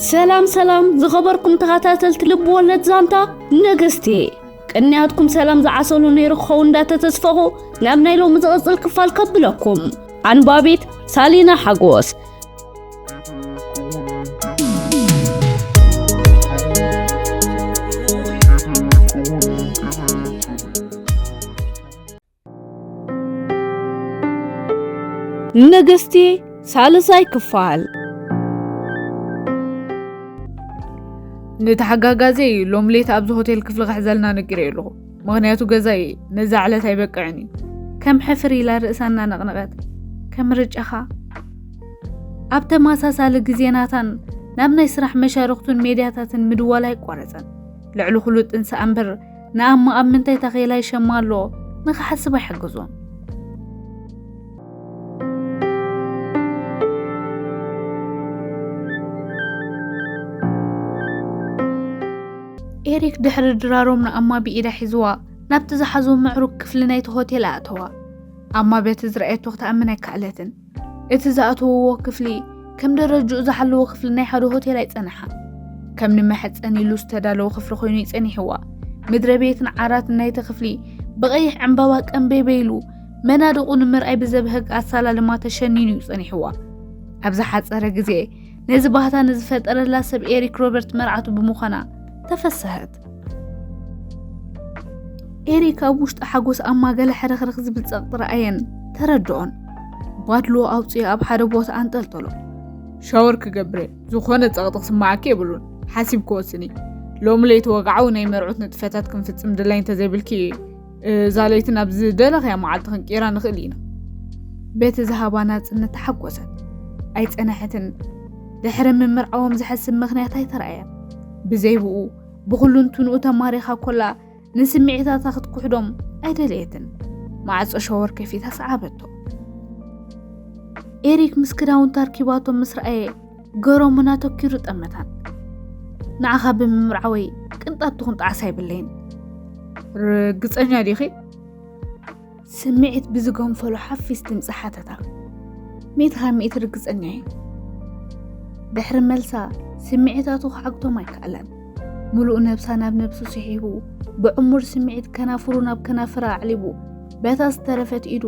ሰላም ሰላም ዝኸበርኩም ተኸታተልቲ ልቢ ወለድ ዛንታ ነገስቲ ቅንያትኩም ሰላም ዝዓሰሉ ነይሩ ክኸው እንዳተተስፈኹ ናብ ናይ ሎሚ ዝቕፅል ክፋል ከብለኩም ኣንባቢት ሳሊና ሓጎስ ንግስቲ ሳልሳይ ክፋል ንተሓጋጋዘ እዩ ሎም ሌት ኣብዚ ሆቴል ክፍሊ ክሕዘልና ነጊረ ኣለኹ ምክንያቱ ገዛ እዩ ነዛ ዕለት ኣይበቅዕን እዩ ከም ሕፍር ኢላ ርእሳ እናነቕነቐት ከም ምርጫኻ ኣብ ተመሳሳሊ ግዜናታን ናብ ናይ ስራሕ መሻርኽቱን ሜድያታትን ምድዋል ኣይቋረፀን ልዕሊ ኩሉ ጥንሲ ኣንበር ንኣሞ ኣብ ምንታይ ታኼላ ይሸማ ኣሎ ንኽሓስብ ኣይሕግዞን። ኤሪክ ድሕሪ ድራሮም ንኣማ ብኢዳ ሒዝዋ ናብቲ ዝሓዞ ምዕሩግ ክፍሊ ናይቲ ሆቴል ኣእተዋ። ኣማ በቲ ዝረኣየቶ ክትኣምን ኣይከኣለትን። እቲ ዝኣተውዎ ክፍሊ ከም ደረጅኡ ዝሓለዎ ክፍሊ ናይ ሓደ ሆቴል ኣይጸንሓ ከም ንመሐፀን ኢሉ ዝተዳለወ ክፍሊ ኮይኑ ይጸኒሕዋ ምድረ ቤትን ዓራት ናይቲ ክፍሊ ብቐይሕ ዕምባባ ቀንቤበ ኢሉ መናድቑ ንምርኣይ ብዘብህግ ኣሳላልማ ተሸኒኑ እዩ ጸኒሕዋ ኣብ ዝሓፀረ ግዜ ነዚ ባህታ ንዝፈጠረላ ሰብ ኤሪክ ሮበርት መርዓቱ ብምዃና ተፈሰሀት ኤሪክ ኣብ ውሽጢ ሓጎስ ኣብ ማገለ ሕርኽርኽ ዝብል ጸቕጢ ረኣየን ተረድኦን ባድሎ ኣውፅኦ ኣብ ሓደ ቦታ ኣንጠልጠሎ ሻወር ክገብረ ዝኾነ ጸቕጢ ክስማዓኪ የብሉን ሓሲብ ክወስኒ ሎሚ ለይቲ ወግዓዊ ናይ መርዑት ንጥፈታት ክንፍጽም ድላይ እንተዘይብልኪ እዛ ለይቲ ናብ ዝደለኽያ መዓልቲ ክንቅይራ ንኽእል ኢና። በቲ ዝሃባ ናጽነት ተሓጎሰት። ኣይጸነሐትን። ድሕሪ ምምርዓዎም ዘሐስብ ምኽንያት ኣይተረኣየን። ብዘይብኡ ብኹሉ እንትንኡ ተማሪኻ ኮላ ንስምዒታታ ክትኩሕዶም ኣይደለየትን። ማዕጾ ሸወር ከፊታ ሰዓበቶ። ኤሪክ ምስ ክዳውንቲ ኣርኪባቶም ምስ ረኣየ ገሮሙን ኣተኪሩ ጠመታን ንዓኻ ብምምርዓወይ ቅንጣብ ትኹን ጣዕሳ ኣይብለይን ርግፀኛ ዲኺ ስምዒት ብዝገንፈሉ ሓፊስ ድምፂ ሓተታ ሚእቲ ካብ ሚእቲ ርግፀኛ እየ ድሕሪ መልሳ ስምዒታቱ ክዓግቶም ኣይከኣላን ምሉእ ነብሳ ናብ ነብሱ ስሒቡ ብዕሙር ስምዒት ከናፍሩ ናብ ከናፍራ ኣዕሊቡ በታ ዝተረፈት ኢዱ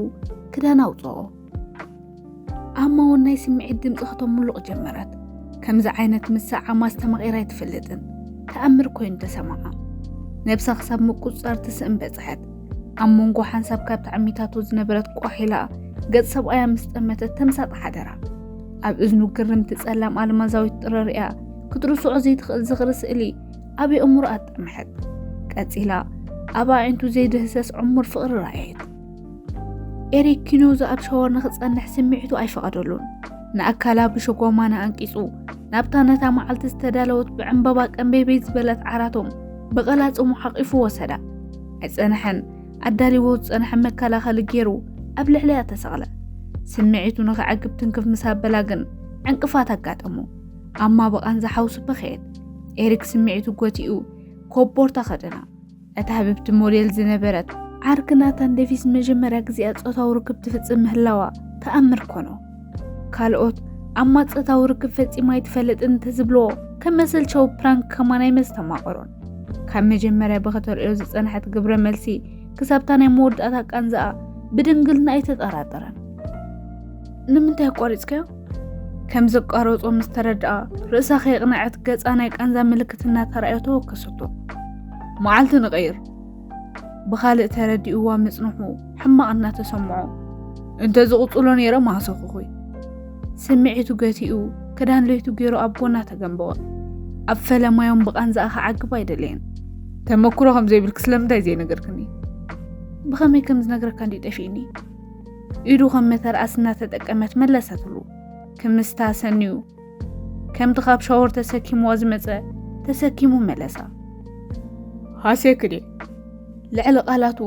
ክዳን ኣውፅኦ ኣማ እውን ናይ ስምዒት ድምፂ ከተምሉቕ ጀመረት ከምዚ ዓይነት ምስዓማ ኣስተማቒራ ኣይትፈልጥን ተኣምር ኮይኑ ተሰማዓ ነብሳ ክሳብ ምቁፅፃር ትስእን በፅሐት ኣብ መንጎ ሓንሳብ ካብ ተዓሚታቱ ዝነበረት ቋሒላ ገፅ ሰብኣያ ምስ ጠመተት ተምሳጥ ሓደራ ኣብ እዝኑ ግርምቲ ፀላም ኣልማዛዊት ጥረር እያ ክትርስዖ ዘይትኽእል ዝኽሪ ስእሊ ኣብ የእምሮ ኣጠምሐት ቀፂላ ኣብ ኣዒንቱ ዘይድህሰስ ዕሙር ፍቕሪ ረኣየት ኤሪክ ኪኖዝ ኣብ ሸወር ንኽጸንሕ ስምዒቱ ኣይፈቐደሉን። ንኣካላ ብሸጎማና ኣንቂጹ ናብታ ነታ መዓልቲ ዝተዳለወት ብዕምበባ ቀንቤቤት ዝበለት ዓራቶም ብቐላጽሙ ሓቒፉ ወሰዳ። ኣይጸንሐን፣ ኣዳሊዎ ዝጸንሐ መከላኸሊ ገይሩ ኣብ ልዕሊያ ተሰቕለ። ስምዒቱ ንኽዕግብ ትንክፍ ምስ ኣበላ ግን ዕንቅፋት ኣጋጠሞ። ኣማ ብቓንዛ ሓውሲ በኸየት። ኤሪክ ስምዒቱ ጎቲኡ ኮቦርታ ከደና። እታ ህብብቲ ሞዴል ዝነበረት ዓርኪ ናታን ዴቪስ መጀመርያ ግዜኣ ጾታዊ ርክብ ትፍጽም ምህላዋ ተኣምር ኮኖ። ካልኦት ኣማ ጾታዊ ርክብ ፈጺማ ኣይትፈልጥን እንተዝብልዎ ከም መሰልቸዊ ፕራንክ ከማን ኣይመስተማቐሮን። ካብ መጀመርያ ብኸተርእዮ ዝጸንሐት ግብረ መልሲ ክሳብታ ናይ መወዳእታ ቃንዛኣ ብድንግልና ኣይተጠራጠረን። ንምንታይ ኣቋሪጽካዮ? ከም ዘቋረጾ ምስ ተረድኣ ርእሳ ከየቕነዐት ገጻ ናይ ቃንዛ ምልክት እናተራእዮ ተወከሰቶ። መዓልቲ ንቐይር ብኻልእ ተረዲእዋ ምጽንሑ ሕማቕ እናተሰምዖ እንተ ዝቕጽሎ ነይረ ማህሰኹኹይ ስምዒቱ ገቲኡ ክዳን ለይቱ ገይሩ ኣብ ጎና ተገንበወ። ኣብ ፈለማዮም ብቓንዛኣ ክዓግብ ኣይደለየን። ተመክሮ ከም ዘይብልክ ስለምንታይ ዘይነገርክኒ? ብኸመይ ከም ዝነግረካ እንዲ ጠፊእኒ ኢዱ ከም መተርኣስ እናተጠቀመት መለሰትሉ። ክምስታ ሰንዩ ከምቲ ካብ ሻወር ተሰኪምዎ ዝመፀ ተሰኪሙ መለሳ። ሃሴክዴ ልዕሊ ቃላቱ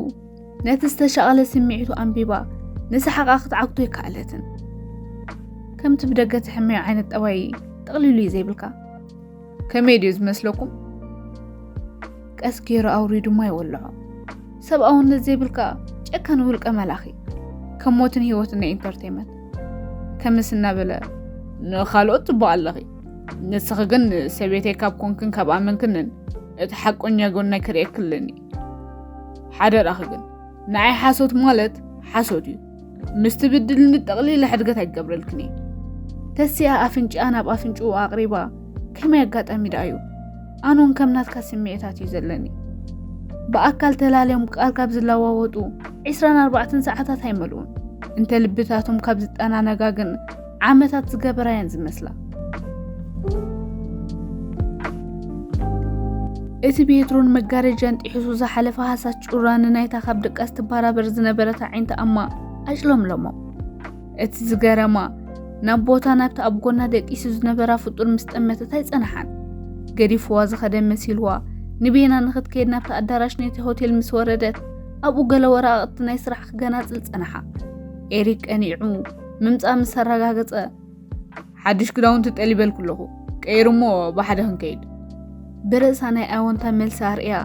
ነቲ ዝተሻቐለ ስምዒቱ ኣንቢባ ንሰሓቓ ክትዓግቶ ኣይከኣለትን። ከምቲ ብደገ ትሕመዮ ዓይነት ጠባይ ጠቕሊሉ እዩ ዘይብልካ። ከመይ ድዩ ዝመስለኩም? ቀስ ገይሩ ኣውሪዱ ድማ ይወልዖ። ሰብኣውነት ዘይብልካ ጨካን ውልቀ መላኺ ከም ሞትን ህይወትን ናይ ኢንተርቴንመንት ከምስ እናበለ ንካልኦት ትባእ ኣለኺ ንስኺ ግን ሰቤተይ ካብ ኮንክን ካብ ኣመንክንን እቲ ሓቆኛ ጎናይ ክርእየክልኒ ሓደራኺ ግን ንዓይ ሓሶት ማለት ሓሶት እዩ ምስ ትብድልኒ ጠቕሊለ ሕድገት ኣይገብረልክን እየ ተሲኣ ኣፍንጭኣ ናብ ኣፍንጭኡ ኣቕሪባ ከመይ ኣጋጣሚ ደኣ እዩ ኣነውን ከም ናትካ ስምዒታት እዩ ዘለኒ ብኣካል ተላለዮም ቃል ካብ ዝለዋወጡ 24 ሰዓታት ኣይመልኡን እንተ ልብታቶም ካብ ዝጠናነጋ ግን ዓመታት ዝገበራ እየን ዝመስላ። እቲ ቤትሮን መጋረጃን ጢሒሱ ዝሓለፈ ሃሳስ ጩራ ንናይታ ካብ ድቃስ ትባራበር ዝነበረት ዓይንታ እማ ኣጭለምለሞ እቲ ዝገረማ ናብ ቦታ ናብቲ ኣብ ጎና ደቂሱ ዝነበራ ፍጡር ምስ ጠመተት ኣይጸንሓን ገዲፍዋ ዝኸደ መሲልዋ ንቤና ንኽትከይድ ናብቲ ኣዳራሽ ነቲ ሆቴል ምስ ወረደት ኣብኡ ገለ ወረቓቕቲ ናይ ስራሕ ክገናጽል ጸንሓ ኤሪክ ቀኒዑ ምምፃእ ምስ ኣረጋገፀ ሓድሽ ክዳውንቲ ጠሊበልኩ ኣለኹ ቀይሩ እሞ ብሓደ ክንከይድ ብርእሳ ናይ ኣወንታ መልሲ ኣርእያ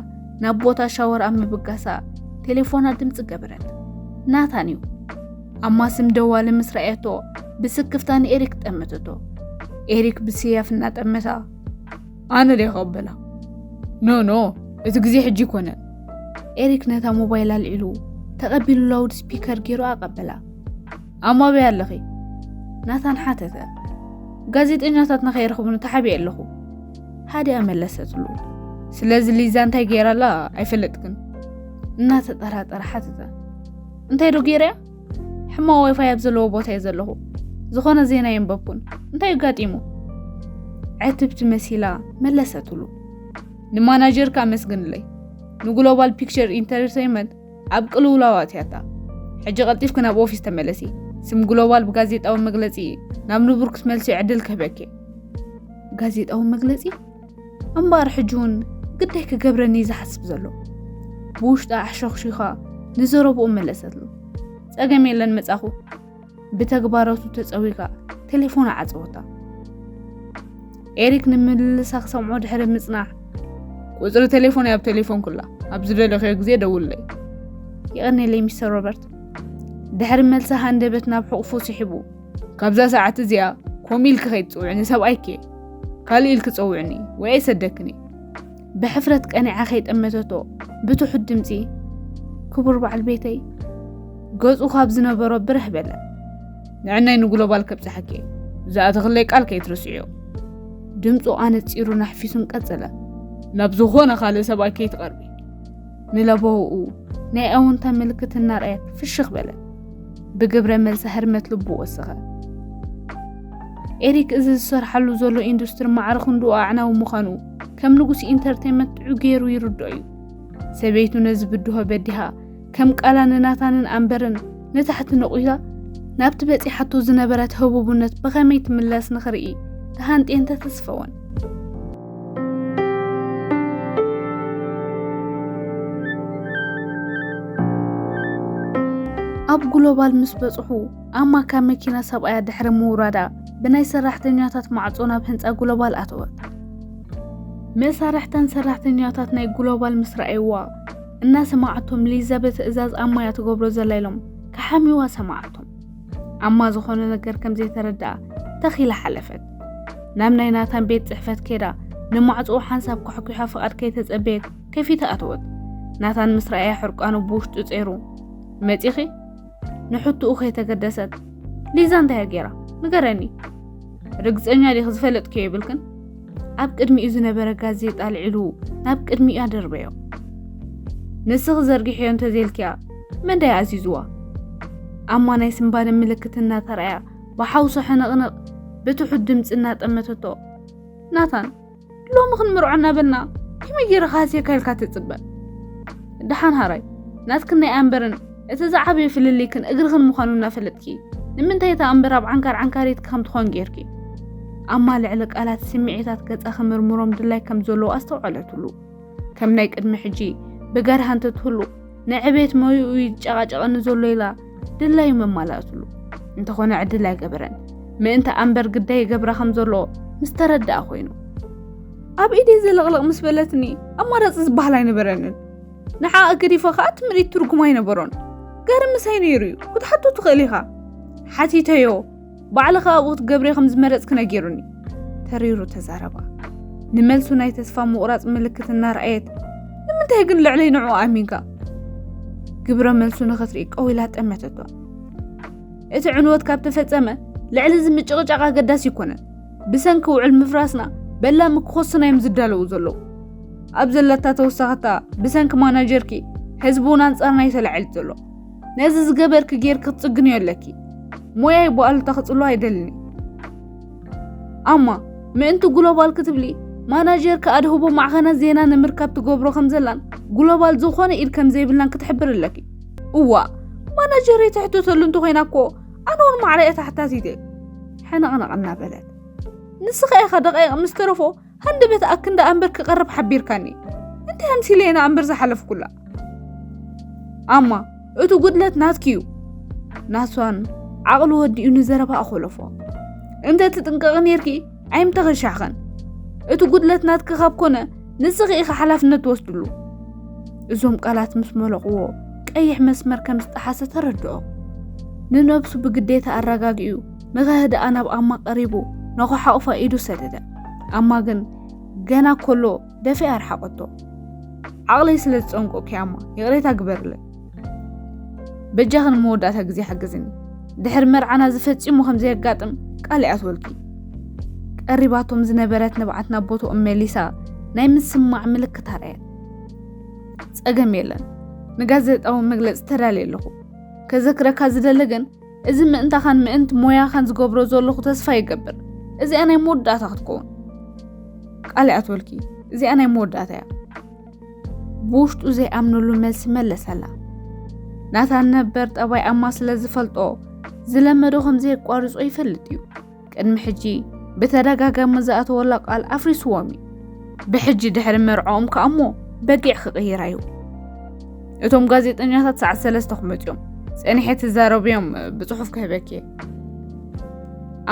ናብ ቦታ ሻወር ኣብ ምብጋሳ ቴሌፎና ድምፂ ገበረት ናታን እዩ ኣማስም ደዋሊ ምስ ረኣየቶ ብስክፍታ ንኤሪክ ጠመተቶ ኤሪክ ብስያፍ እናጠመታ ኣነ ደይ ከበላ ኖ ኖ እቲ ግዜ ሕጂ ኮነ ኤሪክ ነታ ሞባይል ኣልዒሉ ተቐቢሉ ላውድ ስፒከር ገይሩ ኣቐበላ ኣብ ማበይ ኣለኺ ናታን ሓተተ ጋዜጠኛታትና ከይረኽቡኒ ተሓቢየ ኣለኹ ሃዲያ መለሰትሉ ስለዚ ሊዛ እንታይ ገይራ ኣላ ኣይፈለጥክን እናተጠራጠረ ሓተተ እንታይ ዶ ገይረያ ሕማ ዋይፋይ ኣብ ዘለዎ ቦታ እየ ዘለኹ ዝኾነ ዜና የንበብኩን እንታይ ኣጋጢሙ ዕትብቲ መሲላ መለሰትሉ ንማናጀርካ ኣመስግንለይ ንግሎባል ፒክቸር ኢንተርቴንመንት ኣብ ቅልውላው ኣትያታ ሕጂ ቀልጢፍኪ ናብ ኦፊስ ተመለሲ ስም ግሎባል ብጋዜጣዊ መግለፂ ናብ ንቡር ክትመልሲ ዕድል ክህበኪ ጋዜጣዊ መግለፂ እምበኣር ሕጂ እውን ግዳይ ክገብረኒ እዩ ዝሓስብ ዘሎ ብውሽጣ ኣሕሸኽሺኻ ንዘረብኡ መለሰትሉ ፀገም የለን መፃኹ ብተግባረቱ ተጸዊጋ ቴሌፎና ዓጸወታ። ኤሪክ ንምልልሳ ክሰምዖ ድሕሪ ምጽናዕ ቁጽሪ ቴሌፎን ኣብ ቴሌፎን ኩላ ኣብ ዝደለኽዮ ግዜ ደውለይ። ይቐኒለይ ሚስተር ሮበርት። ድሕሪ መልሲ ሃንደበት ናብ ሕቑፉ ስሒቡ ካብዛ ሰዓት እዚኣ ከምኡ ኢልኪ ከይትጽውዕኒ ሰብኣይኪ ካልእ ኢልኪ ጸውዕኒ ወይ ኣይሰደክን ብሕፍረት ቀኒዓ ከይጠመተቶ ብትሑት ድምፂ ክቡር በዓል ቤተይ ገፁ ካብ ዝነበሮ ብርህ በለ ንዕናይ ንግሎባል ከብፅሓኪ ዝኣተኽለይ ቃል ከይትርስዕዮ ድምፁ ኣነፂሩ ናሕፊሱን ቀፅለ ናብ ዝኾነ ካልእ ሰብኣይ ከይትቐርቢ ንለበውኡ ናይ ኣውንታ ምልክት እናርኣየ ፍሽኽ በለ ብግብረ መልሲ ህርመት ልቡ ወሰኸ ኤሪክ እዚ ዝሰርሓሉ ዘሎ ኢንዱስትሪ ማዕረ ክንድኡ ኣዕናዊ ምዃኑ ከም ንጉስ ኢንተርቴንመንት ጥዑ ገይሩ ይርድኦ እዩ። ሰበይቱ ነዚ ብድሆ በዲሃ ከም ቃላ ንናታንን ኣንበርን ንታሕቲ ነቑታ ናብቲ በፂሓቶ ዝነበረት ህቡብነት ብኸመይ ትምለስ ንኽርኢ ተሃንጤን ተተስፈወን። ኣብ ግሎባል ምስ በፅሑ ኣማ ካብ መኪና ሰብኣያ ድሕሪ ምውራዳ ብናይ ሰራሕተኛታት ማዕጾ ናብ ህንጻ ግሎባል ኣተወት። መሳርሕታን ሰራሕተኛታት ናይ ግሎባል ምስ ረኣይዋ እናሰማዓቶም ሊዛ ብትእዛዝ ኣማ እያ ትገብሮ ዘላ ኢሎም ክሓምዩዋ ሰማዓቶም። ኣማ ዝኾነ ነገር ከም ዘይተረድኣ ተኺላ ሓለፈት። ናብ ናይ ናታን ቤት ጽሕፈት ከይዳ ንማዕጽኡ ሓንሳብ ኳሕኲሓ ፍቓድ ከይተጸበየት ከፊታ ኣተወት። ናታን ምስ ረኣያ ሕርቃኑ ብውሽጡ ጸይሩ መጺኺ ንሕቱኡ ከይተገደሰት ሊዛ እንታይ ገይራ ንገረኒ ርግፀኛ ዲኽ ዝፈለጥክዮ ይብልክን ኣብ ቅድሚኡ ዝነበረ ጋዜጣ ኣልዒሉ ናብ ቅድሚኡ ኣደርበዮ ንስኺ ዘርጊሕዮ እንተዘይልክያ መን ዳይ ኣዚዝዋ ኣማ ናይ ስምባደ ምልክት እናተረኣያ ብሓውሶ ሕንቕንቕ ብትሑት ድምፂ እናጠመተቶ ናታን ሎሚ ክንምርዖ እናበልና ከመይ ገይረ ክሃስየካ ኢልካ ትፅበ ድሓን ሃራይ ናትክን ናይ ኣንበርን እቲ ዝዓበየ ፍልልይክን እግርኽን ምዃኑ እናፈለጥኪ ንምንታይ እታ ኣንበር ኣብ ዓንካር ዓንካሪትኪ ከም ትኾን ጌርኪ ኣማ ልዕሊ ቃላት ስምዒታት ገጻ ክምርምሮም ድላይ ከም ዘለዎ ኣስተውዓለትሉ ከም ናይ ቅድሚ ሕጂ ብገርሃ እንተትህሉ ንዕቤት ሞይኡ እዩ ዝጨቓጨቐኒ ዘሎ ኢላ ድላዩ መማላእትሉ እንተኾነ ዕድል ኣይገበረን ምእንቲ ኣንበር ግዳይ ይገብራ ከም ዘሎ ምስ ተረድኣ ኮይኑ ኣብ ኢደይ ዘለቕለቕ ምስ በለትኒ ኣማራፂ ዝበሃል ኣይነበረንን ንዓ ኣገዲፈ ከዓ እቲ ምርኢት ትርጉም ኣይነበሮን ጋር ምሳይ ነይሩ እዩ ክትሓቶ ትኽእል ኢኻ ሓቲተዮ ባዕልኻ ኣብኡ ክትገብሪ ከም ዝመረጽኪ ነጊሩኒ ተሪሩ ተዛረባ ንመልሱ ናይ ተስፋ ምቑራጽ ምልክት እናርኣየት ንምንታይ ግን ልዕለይ ንዑ ኣሚንካ ግብረ መልሱ ንኽትርኢ ቀው ኢላ ጠመተቶ እቲ ዕንወት ካብ ተፈጸመ ልዕሊ እዚ ምጭቕጫቕ ኣገዳሲ ይኮነን ብሰንኪ ውዕል ምፍራስና በላሚ ክኾስና እዮም ዝዳለዉ ዘለዉ ኣብ ዘለታ ተወሳኸታ ብሰንኪ ማናጀርኪ ህዝቢ እውን ኣንጻርና እዩ ተላዒሉ ዘሎ ነዚ ዝገበርኪ ጌር ክትጽግንዮ ኣለኪ ሞያይ ብኣሉታ ክጽሎ ኣይደልኒ ኣማ ምእንቲ ግሎባል ክትብሊ ማናጀር ከኣድህቦ ማዕኸነ ዜና ንምርካብ ትገብሮ ከም ዘላን ግሎባል ዝኾነ ኢድ ከም ዘይብላን ክትሕብር ኣለኪ እዋ ማናጀር የተሕተተሉ እንተኮይና እኮ ኣነ እውን ማዕረየ ተሓታቲት እየ ሕንቕንቕ እናበለት ንስኻ ኢኻ ደቃይቕ ምስ ተረፎ ሃንደበት ኣክን ደኣ እምበር ክቐርብ ሓቢርካኒ እንታይ ኣምሲለ ኢና እምበር ዝሓለፍኩላ ኣማ እቲ ጉድለት ናትኪ እዩ ናሷን ዓቕሉ ወዲኡ ንዘረባ ኣኾለፎ እንተ ትጥንቀቒ ነርኪ ኣይምተኸሻኽን እቲ ጉድለት ናትኪ ካብ ኮነ ንስኺ ኢኺ ሓላፍነት ትወስድሉ እዞም ቃላት ምስ መለቕዎ ቀይሕ መስመር ከም ዝጠሓሰ ተረድኦ ንነብሱ ብግዴታ ኣረጋጊኡ ንኸህድኣ ናብ ኣማ ቀሪቡ ንኸሓቑፋ ኢዱ ሰደደ ኣማ ግን ገና ኮሎ ደፊኣ ኣርሓቐቶ ዓቕለይ ስለ ዝፀንቆኪ ኣማ ይቕሬታ ግበርለይ በጃኺ ንመወዳእታ ግዜ ሓግዝኒ ድሕሪ መርዓና ዝፈፂሙ ከም ዘየጋጥም ቃል ይኣትወልኪ ቀሪባቶም ዝነበረት ንብዓት ናብ ቦትኦም መሊሳ ናይ ምስማዕ ምልክት ኣርኣየት ፀገም የለን ንጋዜጣዊ መግለፂ ተዳልየ ኣለኹ ከዘክረካ ዝደለ ግን እዚ ምእንታኻን ምእንቲ ሞያኻን ዝገብሮ ዘለኹ ተስፋ ይገብር እዚኣ ናይ መወዳእታ ክትከውን ቃል ይኣትወልኪ እዚኣ ናይ መወዳእታ እያ ብውሽጡ ዘይኣምነሉ መልሲ መለሰላ ናታን ነበር ጠባይ ኣማ ስለ ዝፈልጦ ዝለመዶ ከም ዘየቋርጾ ይፈልጥ እዩ ቅድሚ ሕጂ ብተደጋጋሚ ዝኣተወላ ቃል ኣፍሪስዎም እዩ ብሕጂ ድሕሪ መርዕኦም ከዓ እሞ በጊዕ ክቕይራ እዩ እቶም ጋዜጠኛታት ሰዓት ሰለስተ ክመፁ እዮም ፀኒሐ ትዛረቡ እዮም ብፅሑፍ ክህበኪ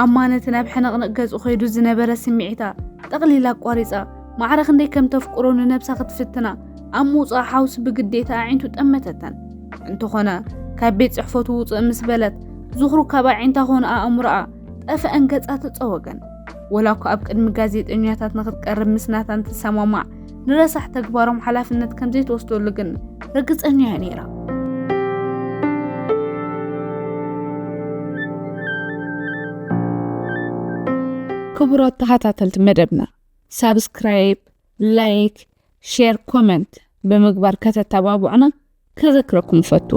ኣማነት ናብ ሕንቕንቕ ገፁ ከይዱ ዝነበረ ስምዒታ ጠቕሊላ ኣቋሪፃ ማዕረ ክንደይ ከም ተፍቅሮ ንነብሳ ክትፍትና ኣብ ምውጻእ ሓውሲ ብግዴታ ኣዒንቱ ጠመተተን። እንተኾነ ካብ ቤት ጽሕፈቱ ውጽእ ምስ በለት ዝኽሩ ካብ ኣዒንታ ኮነ ኣእምሮኣ ጠፍአን ገጻ ተጸወገን። ወላ እኳ ኣብ ቅድሚ ጋዜጠኛታት ንክትቀርብ ምስ ናታን ትሰማማዕ ንረሳሕ ተግባሮም ሓላፍነት ከም ዘይትወስደሉ ግን ርግጸኛ እያ ነይራ። ክቡራት ተኸታተልቲ መደብና ሳብስክራይብ፣ ላይክ፣ ሼር ኮመንት ብምግባር ከተተባብዑና ከዘክረኩም እፈቱ።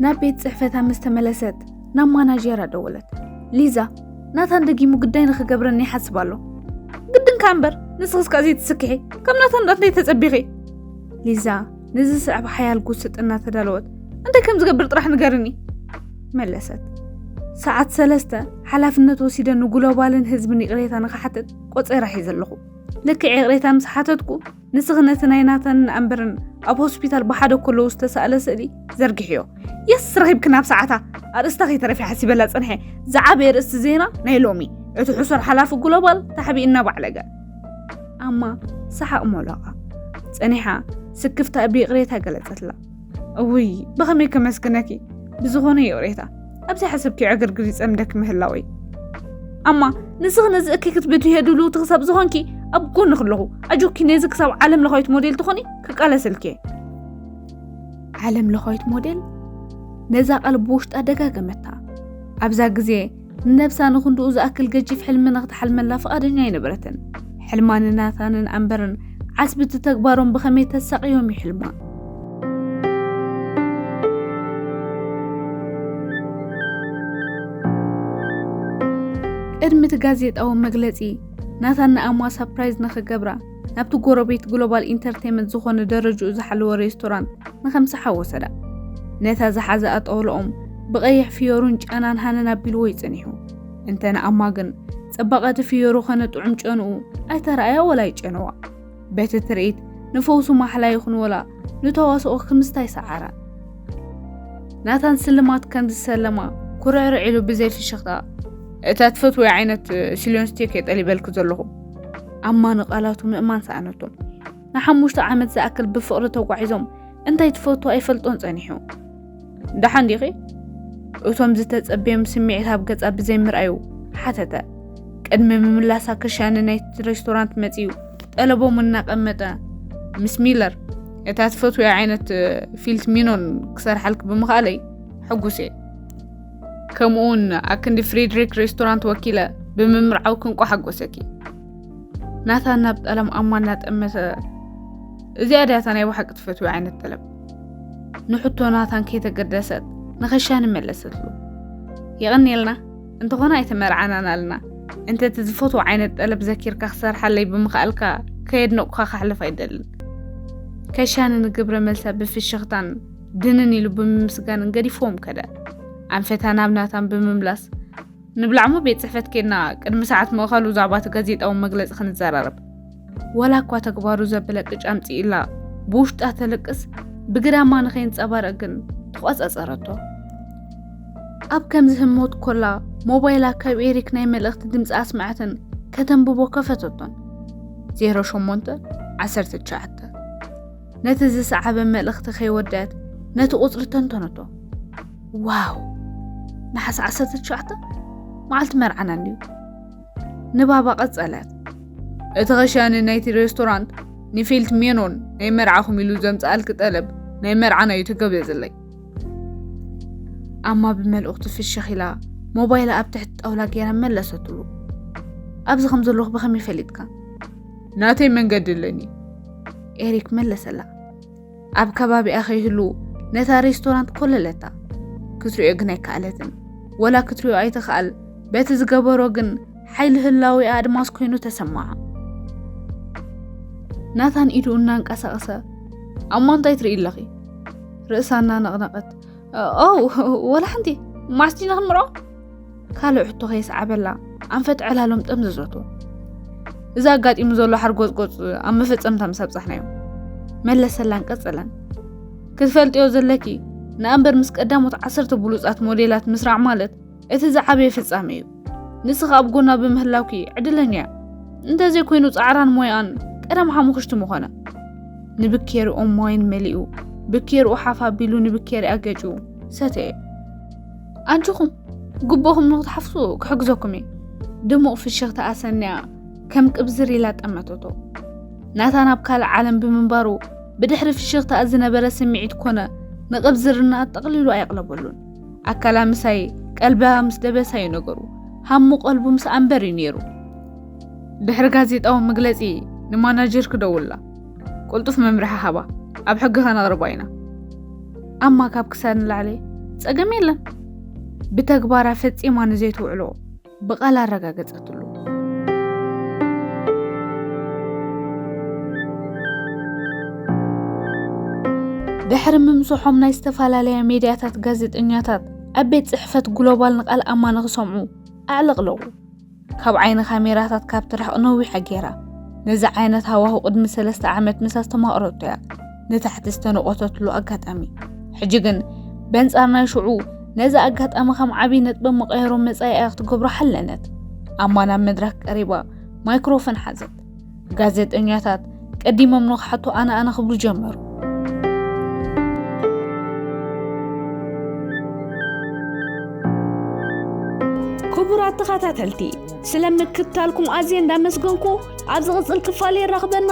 ናብ ቤት ጽሕፈታ ምስ ተመለሰት ናብ ማናጀራ ደወለት። ሊዛ ናታን ደጊሙ ግዳይ ንኽገብረኒ ይሓስብ ኣሎ ግድንካ እምበር ንስኽስ ካዚ ትስክሒ ከም ናታን ዳት ተጸቢኺ ሊዛ ንዝስዕብ ሓያል ጉስጥ እናተዳለወት እንታይ ከም ዝገብር ጥራሕ ንገርኒ መለሰት። ሰዓት ሰለስተ ሓላፍነት ወሲደ ንግሎባልን ህዝብን ይቕሬታ ንክሓትት ቆፀራ ሒዘ ኣለኹ ልክዕ ይቕሬታ ምስ ሓተትኩ ንስኺ ነቲ ናይ ናታንን ኣንበርን ኣብ ሆስፒታል ብሓደ ከለዉ ዝተሳእለ ስእሊ ዘርግሕዮ የስ ረኺብክን ኣብ ሰዓታ ኣርእስታ ከይተረፊ ሓሲበላ ፅንሐ ዝዓበየ ርእስቲ ዜና ናይ ሎሚ እቲ ሕሱር ሓላፊ ግሎባል ታሕቢእና ባዕለገ ኣማ ሰሓቕ ሞላቓ ጸኒሓ ስክፍታ ብይቕሬታ ገለጸትላ እውይ ብኸመይ ከመስግነኪ ብዝኾነ ይቕሬታ ኣብዚ ሓሰብኪ ዕግርግር ይጸምደኪ ምህላወይ ኣማ ንስኺ ነዚ እኪ ክትብድዮ ድልውቲ ክሳብ ዝኾንኪ ኣብ ጎኒ ክለኹ ኣጆኪ ነዚ ክሳብ ዓለም ለኻዊት ሞዴል ትኾኒ ክቃለሰልኪ ዓለም ለኻዊት ሞዴል ነዛ ቃል ብውሽጣ ደጋገመታ ኣብዛ ግዜ ነብሳ ንክንድኡ ዝኣክል ገጂፍ ሕልሚ ንክትሓልመላ ፍቓደኛ ኣይነበረትን። ሕልማ ንናታንን ኣምበርን ዓስቢ እቲ ተግባሮም ብኸመይ ተሳቕዮም ይሕልማ። ቅድሚ እቲ ጋዜጣዊ መግለጺ ናታን ንኣሟ ሳፕራይዝ ንክገብራ ናብቲ ጎረቤት ግሎባል ኢንተርቴመንት ዝኾነ ደረጅኡ ዝሓለወ ሬስቶራንት ንኸምስሓ ወሰዳ። ነታ ዝሓዘኣ ጠውሎኦም ብቐይሕ ፍዮሩን ጨናን ሃነን ኣቢልዎ እዩ ጸኒሑ። እንተ ንኣማ ግን ጽባቐቲ ፍዮሩ ኸነ ጥዑም ጨንኡ ኣይተረኣያ ወላ ይጨነዋ። በቲ ትርኢት ንፈውሱ ማሕላ ይኹን ወላ ንተዋስኦ ክምስታይ ሰዓራ። ናታን ስልማት ከም ዝሰለማ ኩርዕርዕ ኢሉ ብዘይ ፍሽኽታ እታ ትፈትወይ ዓይነት ሲልዮን ስቴክ እየ ጠሊበልኪ ዘለኹ ኣማኒ ቃላቱ ምእማን ሰኣነቶም። ንሓሙሽተ ዓመት ዝኣክል ብፍቕሪ ተጓዒዞም እንታይ ትፈቱ ኣይፈልጦን ጸኒሑ። ደሓን ዲኺ? እቶም ዝተጸበዮም ስምዒት ኣብ ገጻ ብዘይምርኣዩ ሓተተ። ቅድሚ ምምላሳ ክሻኒ ናይ ሬስቶራንት መጺኡ ጠለቦም እናቐመጠ ምስ ሚለር እታ ትፈትውያ ዓይነት ፊልት ሚኖን ክሰርሓልክ ብምኽኣለይ ሕጉስ እየ ከምኡውን ኣክንዲ ፍሬድሪክ ሬስቶራንት ወኪለ ብምምርዓው ክንቆ ሓጎሰኪ ናታ ናብ ጠለም ኣማ እናጠመተ እዚኣ ድያታ ናይ ባሓቂ ትፈትዊ ዓይነት ጠለም ንሕቶ ናታን ከይተገደሰት ንኸሻ ንመለሰትሉ የቐኒልና እንተኾነ ኣይተመርዓናን ኣልና እንተ እቲ ዝፈትዎ ዓይነት ጠለብ ዘኪርካ ክሰርሓለይ ብምኽኣልካ ከየድነቑካ ካሕልፍ ኣይደልን ከሻኒ ንግብረ መልሳ ብፍሽኽታን ድንን ኢሉ ብምምስጋንን ገዲፎም ከደ ኣንፈታ ናብ ናታን ብምምላስ ንብላዕሞ ቤት ፅሕፈት ኬድና ቅድሚ ሰዓት ምእኸሉ ዛዕባ እቲ ጋዜጣዊ መግለፂ ክንዘራረብ ወላ እኳ ተግባሩ ዘበለ ቅጫ ኣምፅኢላ ብውሽጣ ተልቅስ ብግዳማ ንኸይንፀባረቕ ግን ተቆፃፀረቶ ኣብ ከምዚ ህሞት ኮላ ሞባይላ ካብ ኤሪክ ናይ መልእኽቲ ድምፂ ኣስማዕትን ከተንብቦ ከፈተቶን 08 19 ነቲ ዝሰዓበ መልእኽቲ ከይወደት ነቲ ቁጽሪ ተንተነቶ። ዋው ነሓሰ ዓሰርተ ትሽዓተ መዓልቲ መርዓና እንድዩ ንባባ ቀጸለት። እቲ ኸሻኒ ናይቲ ሬስቶራንት ንፊልት ሜኖን ናይ መርዓኹም ኢሉ ዘምጽኣልኪ ጠለብ ናይ መርዓና እዩ ተገበዝለይ። ኣማ ብመልእኽቱ ፍሽኽ ኢላ ሞባይላ ኣብ ትሕቲ ጣውላ ገይራ መለሰትሉ። ኣብዚ ከም ዘለኹ ብኸመይ ፈሊጥካ? ናተይ መንገዲ ኣለኒ ኤሪክ መለሰላ ኣብ ከባቢኣ ከይህሉ ነታ ሬስቶራንት ኮለለታ ክትሪኦ ግን ኣይከኣለትን ወላ ክትሪኦ ኣይትኽኣል በቲ ዝገበሮ ግን ሓይሊ ህላዊ ኣድማስ ኮይኑ ተሰማዓ ናታን ኢዱ እናንቀሳቐሰ ኣብ ማንታይ ትርኢ ኣለኺ ርእሳ እናነቕነቐት ኦው ወላ ሓንቲ ማስቲ ንክምርዖ ካልእ ሕቶ ከየስዓበላ ኣንፈት ዕላሎም ጠምዘዘቶ እዚ ኣጋጢሙ ዘሎ ሓርጎፅጎፅ ኣብ መፈፀምታ ምስ ኣብፃሕናዮ መለሰላን ቀፀለን ክትፈልጥዮ ዘለኪ ንኣንበር ምስ ቀዳሞት ዓሰርተ ብሉፃት ሞዴላት ምስራዕ ማለት እቲ ዝዓበየ ፍጻሜ እዩ። ንስኺ ኣብ ጎና ብምህላውኪ ዕድለኛ እያ። እንተዘይ ኮይኑ ጻዕራን ሞያኣን ቀደም ሓሙኽሽቲ ምኾነ። ንብኬርኡ ማይን መሊኡ ብኬርኡ ሓፍ ኣቢሉ ንብኬርኣ ገጩ ሰተየ። ኣንቺኹም ግቡእኹም ንክትሓፍሱ ክሕግዘኩም እየ። ድሙቕ ፍሽኽታ ኣሰንያ ከም ቅብዝር ኢላ ጠመተቶ። ናታ ናብ ካልእ ዓለም ብምንባሩ ብድሕሪ ፍሽኽታ ዝነበረ ስምዒት ኮነ ንቕብዝርና ጠቕሊሉ ኣየቕለበሉን። ኣካላ ምሳይ ቀልባ ምስ ደበሳ እዩ ነገሩ ሃሙ ቀልቡ ምስ ኣንበር እዩ ነይሩ ድሕሪ ጋዜጣዊ መግለፂ ንማናጀር ክደውላ ቅልጡፍ መምርሒ ሃባ ኣብ ሕጊ ከነቕርባ ኢና ኣማ ካብ ክሳድ ንላዕሊ ፀገም የለን ብተግባራ ፈፂማ ንዘይትውዕሎ ብቓል ኣረጋገጸትሉ። ድሕሪ ምምስሖም ናይ ዝተፈላለያ ሜድያታት ጋዜጠኛታት ኣብ ቤት ጽሕፈት ግሎባል ንቓል ኣማ ንኽሰምዑ ኣዕለቕለቑ። ካብ ዓይኒ ካሜራታት ካብ ትርሕቕ ነዊሓ ገይራ ነዚ ዓይነት ሃዋሁ ቅድሚ ሰለስተ ዓመት ምስ ኣስተማቕረቶ እያ። ንታሕቲ ዝተነቖተትሉ ኣጋጣሚ ሕጂ ግን በንጻር ናይ ሽዑ ነዚ ኣጋጣሚ ከም ዓብዪ ነጥቢ መቐየሮ መጻኢኣ ክትገብሮ ሓለነት። ኣማ ናብ መድረክ ቀሪባ ማይክሮፎን ሓዘት። ጋዜጠኛታት ቀዲሞም ንክሓቱ ኣነ ኣነ ክብሉ ጀመሩ። ክቡራት ተኸታተልቲ ስለምክታልኩም ኣዝየ እንዳመስገንኩ ኣብ ዝቕጽል ክፋል የራኽበና።